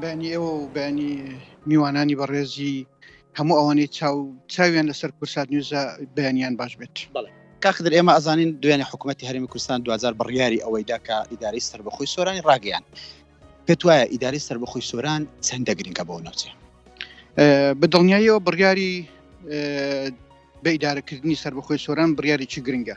بەیانی ئێوە و بەیانی میوانانی بەڕێزی هەموو ئەوانەی چاو چاویان لەسەر کورسات نوێزە بەیانیان باش بێت بڵێ کاخدر ئێمە ئەزانین دوێنێ حکوومەتتی هەرمی کوردستان دوجار بڕیاری ئەوەی داکە ئیدارەی سەر بەخۆی سۆرانی ڕاگەیان پێت وایە ئیدارەی سەر بەخۆی سۆران چەندە گرنگە بۆ ناوچێ بە دڵنیاییەوە بڕیاری بە ئیدارەکردنی سەر بەخۆی سۆران بڕیارێکی گرنگە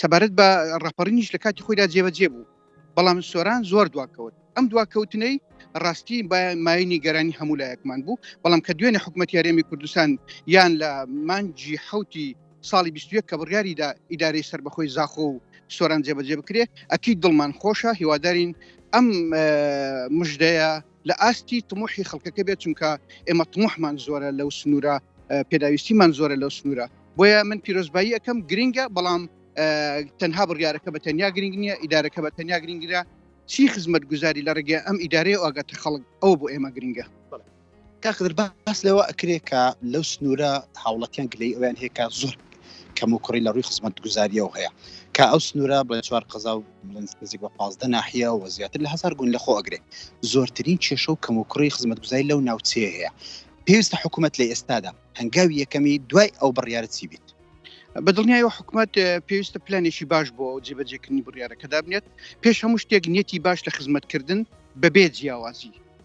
سەبارەت بە ڕاپەڕینیش لە کاتی خۆیدا جێبەجێ بوو بەڵام سۆران زۆر دواکەوت ئەم دواکەوتنەی ڕاستی مای نیگەرانی هەموو لایەکمان بوو بەڵام کە دوێنێ حکوومەت یارێمی کوردستان یان لە مانجی حوتی ساڵی 21 کە بڕیاریدا ئیدارەی سەر بەخۆی زاخۆ و سۆران جێبەجێ بکرێ ئەکی دڵمان خۆشە هیوادارین ئەم مژدەیە لە ئاستی تموحی خەڵکەکە بێت چونکە ئێمە تموحمان زۆرە لەو سنوورە پێداویستیمان زۆرە لەو سنوورە بۆیە من پیرۆزبایی ئەەکەم گرنگە بەڵام تەنها بڕیارەکە بە تەنیا گرنگ نییە ئیدارەکە بە تەنیا گرنگرە چی خزمەت گوزاری لە ڕێگە ئەم ئیدارەیە ئاگەتە خەڵک ئەو بۆ ئێمە گرنگە کاخدر باس لەوە ئەکرێت کە لەو سنوورە هاوڵەتیان گلەی ئەویان هەیە کە زۆر کەم و کوڕی لە ڕووی خزمەت گوزاریەوە هەیە کە ئەو سنوورە بڵێ چوار قەزا و لەنز نزیک بە پازدە ناحیە و زیاتر لە هەزار گوند لەخۆ ئەگرێ، زۆرترین کێشە و کەموکوڕی خزمەتگوزاری لەو ناوچەیە هەیە، پێویستە حکومەت لە ئێستادا هەنگاوی یەکەمی دوای ئەو بڕیارە چی بیت؟ بەدڵنیایەوە حکومەت پێویستە پلانێکی باش بۆ جێبەجێکردنی بڕیارەکە دابنێت، پێش هەموو شتێک نیەتی باش لە خزمەتکردن بەبێ جیاوازی،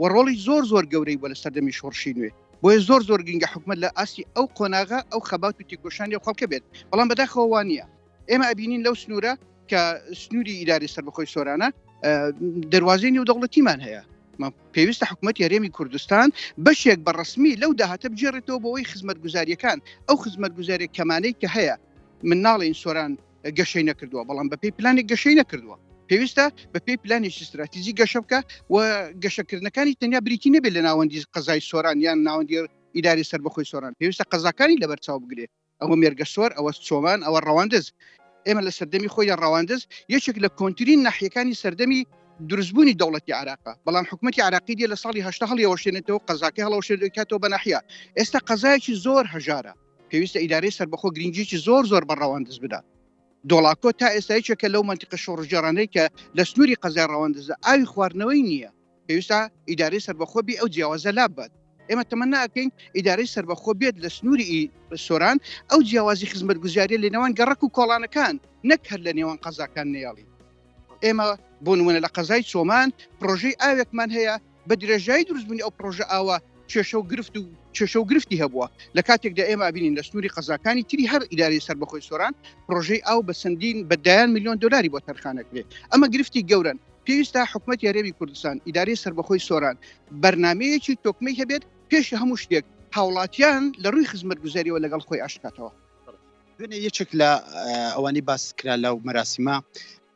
و ڕۆڵی زۆر زۆر گەورەی بوە لە سەردەمی شۆڕشی نوێ بۆیە زۆر زۆر گرنگە حکومەت لە ئاستی ئەو قۆناغە ئەو خەبات و تێکۆشانی ئەو خەڵکە بێت بەڵام بەداخەوە وا نییە ئێمە ئەبینین لەو سنوورە کە سنووری ئیداری سەربەخۆی سۆرانە دەواازەی نێودەوڵەتیمان هەیە پێویستە حکوومەت یاێمی کوردستان بەشێک بە ڕسمی لەو داهاتە بجێڕێتەوە بۆەوەی خزمەت گوزاریەکان ئەو خزمەت گوزارێک کەمانەی کە هەیە من ناڵێن سۆران گەشەی نەکردووە بەڵام بە پێی پلانێک گەشەی نەکردووە پێویستە بە پێی پلانێکی استراتیزی گەشە بکە و گەشەکردنەکانی تەنیا بریتی نەبێت لە ناوەندی قەزای سۆران یان ناوەندی ئیداری سەر بەخۆی سۆران پێویستە قەزاکانی لەبەر چاو بگرێت ئەوە مێرگە سۆر ئەوە چۆمان ئەوە ڕەواندز ئێمە لە سەردەمی خۆی لە ڕەواندز یەکێک لە کۆنتترین ناحیەکانی سەردەمی دروستبوونی دەوڵەتی عراقە بەڵام حکوومەتتی عراقی دی لە ساڵی هه هەڵیەوەشێنێتەوە قەزاکە هەڵەوەشێنێتەوە بە ناحە ئێستا قەزایکی زۆر هەژارە پێویستە ئیدارەی سەربەخۆ گرنگیی زۆر زۆر بە ڕەواندز بدات. دۆڵاکۆ تا ئێستا یەکێکە لەو مەنتیقە شۆڕشگێڕانەی کە لە سنووری قەزای ڕەواندزدا ئاوی خواردنەوەی نییە. پێویستە ئیدارەی سەربەخۆ بێ ئەو جیاوازە لاببات. ئێمە تەمەنا ئەکەین ئیدارەی سەربەخۆ بێت لە سنووری سۆران، ئەو جیاوازی خزمەتگوزارییە لە نێوان گەڕەک و کۆڵانەکان، نەک هەر لە نێوان قەزاکان نەیەڵین. ئێمە بۆ نموونە لە قەزای چۆمان پڕۆژەی ئاوێکمان هەیە، بە درێژایی دروستبوونی ئەو پرۆژە ئاوا کێشە و گرفت و کێشە و گرفتی هەبووە لە کاتێکدا ئێمە ئابینین لە سنووری قەزاکانی تری هەر ئیداری سەر بەخۆی سۆران پرۆژەی ئاو بە سندین بە دایان میلیۆن دلاری بۆ تەرخانەکرێت ئەمە گرفتی گەورن پێویستە حکوومەت یاێوی کوردستان ئیداری سربەخۆی سۆران بەرنمەیەکی تۆکمەی هەبێت پێش هەموو شتێک هاوڵاتیان لە ڕووی خزمەت گوزاریەوە لەگەڵ خۆی ئاشکاتەوە دوێنێ یەکێک لە ئەوانی باسکرا لەو مەراسیمە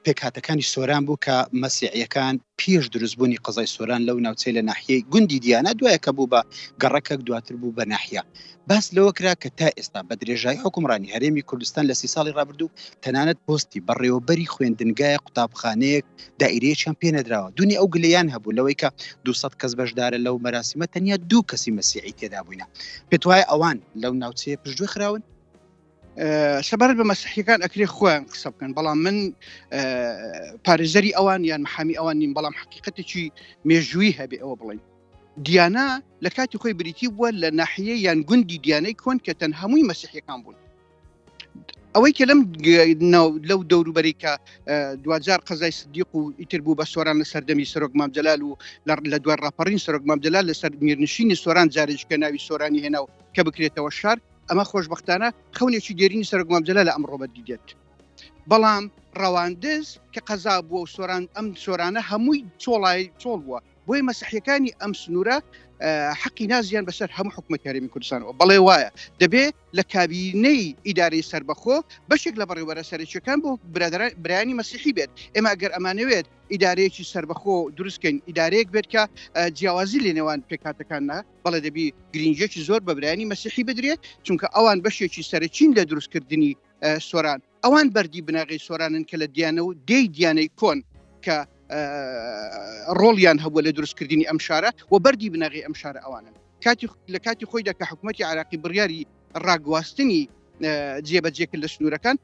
پێکهاتەکانی سۆران بوو کە مەسیعیەکان پێش دروست بوونی قەزای سۆران لەو ناوچەی لە ناحیەی گوندی دیانا دوایە کە بوو بە گەڕەکەک دواتر بوو بە ناحیە باس لەوە کرا کە تا ئێستا بە درێژایی حکومڕانی هەرێمی کوردستان لە سی ساڵی ڕابردوو تەنانەت پۆستی بەڕێوەبەری خوێندنگایە قوتابخانەیەک دائیرەیەکیان پێنەدراوە دونی ئەو گلیان هەبوو لەوەی کە 200 کەس بەشدارە لەو مەراسیمە تەنیا دوو کەسی مەسیعی تێدا بووینە پێت وایە ئەوان لەو ناوچەیە پشتگوێ خراون سەبارەت بە مەسیحیەکان ئەکرێ خۆیان قسە بکەن بەڵام من پارێزەری ئەوان یان محامی ئەوان نیم بەڵام حقیقەتێکی مێژووی هەبێ ئەوە بڵین دیانا لە کاتی خۆی بریتی بووە لە ناحەیە یان گوندی دیانەی کۆن کە تەن هەمووی مەسیحەکان بوون ئەوەی کە لەم لەو دەوروبەری کە دوجار قەزای سدیق و ئیتر بوو بە سۆران لە سەردەمی سەرۆک مامجلال و لە دوای ڕاپەڕین سەرۆک مامجلال لەسەر میرنشینی سۆران جارێککە ناوی سۆرانی هێنا و کە بکرێتەوە شار ئەمە خۆشببختانە خەونێکی دێرینی سەرک مامجللا لە ئەمڕۆ بەدی دێت بەڵام ڕەواندز کە قەزا بووە و سۆران ئەم سۆرانە هەمووی چۆڵای چۆڵ بووە بۆی مەسیحەکانی ئەم سنوورە حەقی نازیان بەسەر هەموو حکومە کارێمی کوردستانەوە بەڵێ وایە دەبێ لە کابینەی ئیدارەی سربەخۆ بەشێک لە بەڕێوەرە سەرچەکان بۆ برادران برانی مەسیحی بێت ئێمە گەر ئەمانەوێت ئیدارەیەکی سربەخۆ دروستکەین ئیدارەیەک بێت کە جیاوازی لە نێوان پێکاتەکاننا بەڵێ دەبی گرنگێکی زۆر بە برانی مەسیحی بدرێت چونکە ئەوان بەشێکی سەرچین لە دروستکردنی سۆران ئەوان بەردی بناغی سۆرانن کە لە دیانە و دی دیانەی کۆن کە ڕۆڵیان هەبووە لە دروستکردنی ئەم شارە و بەردی بناغی ئەم شارە ئەوانن کاتی لە کاتی خۆیدا کە حکوومەتتی عراقی بڕیاری ڕاگواستنی جێبەجێ کرد لە سنوورەکان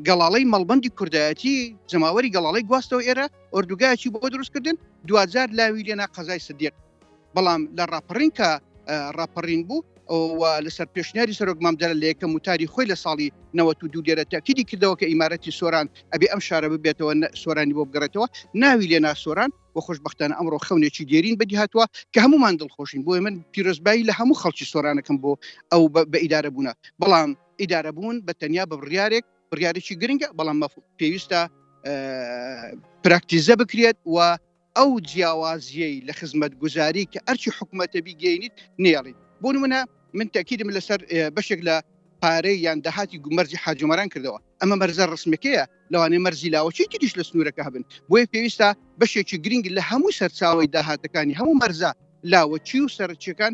گەڵاڵەی مەڵبندی کوردایەتی جەماوەری گەڵاڵی گواستەوە ئێرە ئۆردوگایکی بۆ دروستکردن دوجار لاوی لێنا قەزای سدیق بەڵام لە ڕاپەڕینکە ڕاپەڕین بوو لەسەر پێشنیاری سەرۆک مامدەرە لە یەکەم وتاری خۆی لە ساڵی نەوە و دوو دێرە تاکیدی کردەوە کە ئیمارەتی سۆران ئەبێ ئەم شارە ببێتەوە سۆرانی بۆ بگەڕێتەوە ناوی لێ ناسۆران و خۆشببختانە ئەمڕۆ خەونێکی دێرین بەدی هاتووە کە هەمومان دڵخۆشین بۆی من پیرۆزبایی لە هەموو خەڵکی سۆرانەکەم بۆ ئەو بە ئیدارە بوونە بەڵام ئیدارە بوون بە تەنیا بە بڕیارێک بڕیارێکی گرنگە بەڵام پێویستە پراکتیزە بکرێت و ئەو جیاوازیەی لە خزمەتگوزاری کە ئەرکی حکومەتە بیگەینیت نێڵیت بۆ نمونە من تاکیدم لەسەر بەشێک لە پارەی یان داهاتی گومەرجی حاجۆمەران کردەوە ئەمە مەرزە ڕسمەکەیە لەوانێ مەرزی لاوەچی تریش لە سنوورەکە هەبن بۆیە پێویستە بەشێکی گرنگ لە هەموو سەرچاوی داهاتەکانی هەموو مەرزە لاوەچی و سەرچیەکان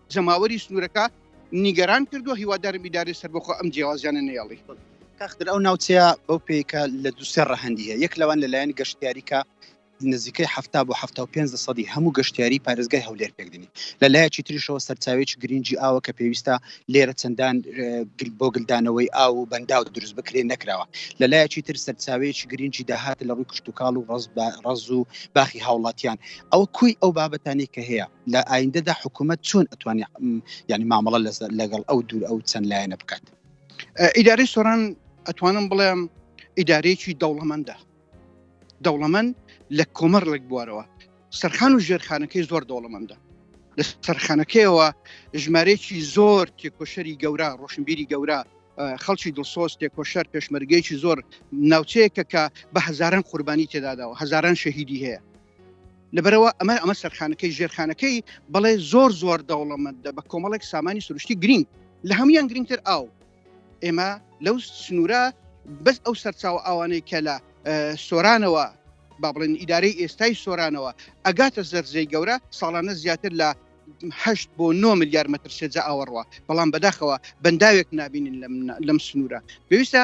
جەماوەری سنوورەکە نیگەران کردووە هیوادارم ئیدارەی سەربەخۆ ئەم جیاوازیانە نێڵی کاختر ئەو ناوچەیە بەو پێیکە لە دووسێ ڕەهندی هەیە یەک لەوان لەلایەن گەشتیاریکە نزیکەی هەفتا بۆ ه پێ سەدی هەموو گەشتیاری پارێزگای هەولێر پێکدنی لە لایەکی تریشەوە سەرچاوێکی گرنگی ئاوە کە پێویستە لێرە چەندان بۆ گلدانەوەی ئاو و بەنداو دروست بکرێن نەکراوە لە لایەکی تر سەرچاوێکی گرنگی داهات لە ڕووی کشتتوکاڵ و ڕز ڕز و باخی هاوڵاتیان ئەو کوی ئەو بابەتانی کە هەیە لە ئایندەدا حکوومەت چۆن ئەتوانی ینی مامەڵە لەگەڵ ئەو دوور ئەو چەند لایەنە بکات ئیدارەی سۆران ئەتوانم بڵێم ئیدارەیەکی دەوڵەمەندە دەوڵەمەند لە کۆمەر لەک بوارەوە سەرخان و ژێرخانەکەی زۆر دەوڵەمەندە لە سەرخانەکەیەوە ژمارەیەکی زۆر تێکۆشەری گەورە ڕۆشنبیری گەورە خەڵکی دڵسۆز تێکۆشەر پێشمەرگەیەکی زۆر ناوچەیەکە کە بە هزاران قوربانی تێداداوە هزاران شەهیدی هەیە لەبەرەوە ئەمە ئەمە سەرخانەکەی ژێرخانەکەی بەڵێ زۆر زۆر دەوڵەمەندە بە کۆمەڵێک سامانی سروشتی گرنگ لە هەمویان گرنگتر ئاو ئێمە لەو سنوورە بەس ئەو سەرچاوە ئەوانەی کە لە سۆرانەوە با بڵێن ئیدارەی ئێستای سۆرانەوە ئەگاتە زەرزەی گەورە ساڵانە زیاتر لە هەشت بۆ 9 میلیار متر سێجا ئاوەڕوە بەڵام بەداخەوە بەنداوێک نبینین لەم سنوورە پێویستە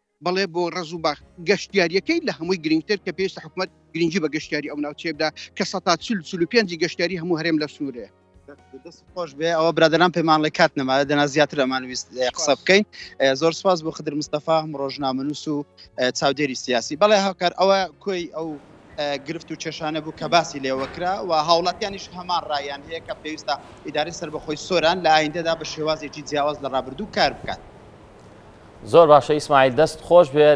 بەڵێ بۆ ڕز و باخ گەشتیاریەکەی لە هەمووی گرنگتر کە پێویستە حکومت گرنگجی بە گەشتیاری ئەو ناوچێبدا کە سە چل چل و پێ گەشتیاری هەموو هەرێم لە سنوورێ خۆش بێ ئەوە برادران پەیمانڵی کات نەماە دەنا زیاتر ئەمان ویست قسە بکەین زۆر سپاس بۆ خدر مستەفا هەم ڕۆژنامەنووس و چاودێری سیاسی بەڵێ هاوکار ئەوە کۆی ئەو گرفت و کێشانە بوو کە باسی لێوە کرا و هاوڵاتیانیش هەمان ڕایان هەیە کە پێویستە ئیدارەی سەربەخۆی سۆران لە ئایندەدا بە شێوازێکی جیاواز لە ڕابردوو کار بکات. زۆر باشە ئیسماعیل دەست خۆش بێ.